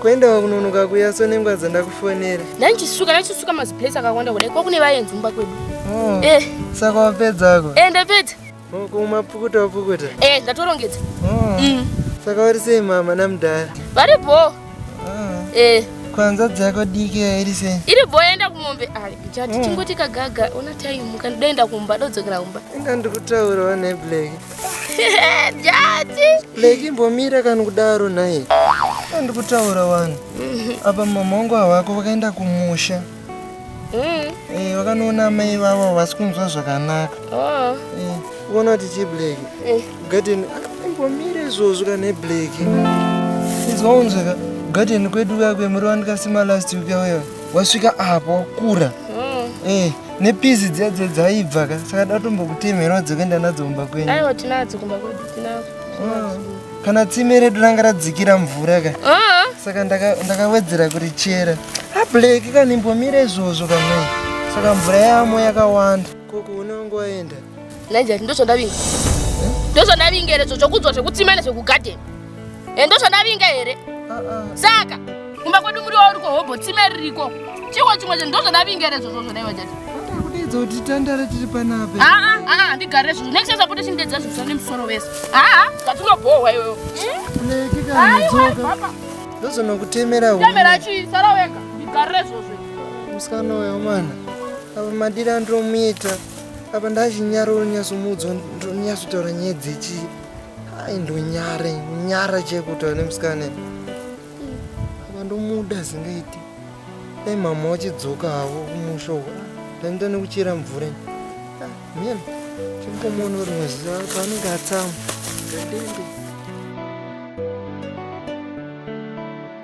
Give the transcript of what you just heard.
kuendawo kunonoka kuya so nengwa dzandakufonera ndanichisuka ndachisuka maziplace akawanda kudai kwakune vayenzi mumba kwedu oh, eh. saka wapedzako e eh, ndapedza oh, kumapukuta wapukuta e eh, ndatorongedza oh. mm. saka vari sei mama namudhara vari bho oh. e kwanza dzako diki iri sei iri bho yaenda kumombe ari ah, chati oh. chingoti kagaga ona time kandidaenda kumba dodzokera kumba inga ndikutaurawo neblack Leki mbomira kana kudaro naye. Ndi kutaura wani. Apa mama wangu hawako vakaenda kumusha. Mm. Eh, vakanoona amai vavo vasi kunzwa zvakanaka. Oh. Eh, uona kuti chi Black. Eh. Garden mbomira izvozvo kana ne Black. Izwa unzweka. Garden kwedu kakwe muri wanikasima last week yauya. Wasvika apo kura. Mm. Eh. nepizi dziya dziya dzaibva ka saka datombokutemherawo dzekuenda nadzo kumba kwenyu aiwa tinadzo kumba kwedu tinadzo ah, kana tsime redu ranga radzikira mvura ka ah. saka ndakawedzera kuri chera ablake ah, kanimbomira izvozvo kamai saka mvura yamo yakawanda koko unongo waenda naijati ndozvandavinga eh? ndozvandavinga erezo chokudzwa zvekutsima nezvekugadheni Eh, ndozvandavinga here saka kumba kwedu muriwo uri kohobho tsime ririko chiwo chimwe chinhu ndozvandavinga here zvozvozvo daiwa chati kudedza kuti tandare tiri panapa aa aa ndigare zvozvo next time apote chindedza zvozvo nemusoro wese aa zvatinobhohwa iweyo tikadzoka ndozonokutemera temera chii sara wega ndigare zvozvo musikana uyo mwana apa madira andiromuita apa ndachinyaroro nyasomudza ndonyasotaura nyaya dzechii Hai ndonyare nyara chekutaura nemusikana apa ndomuda zingaiti dai mama wachidzoka havo kumusha uko ndainda nekuchera mvura mhen chimbomuona uri maziva paanenge atsamwa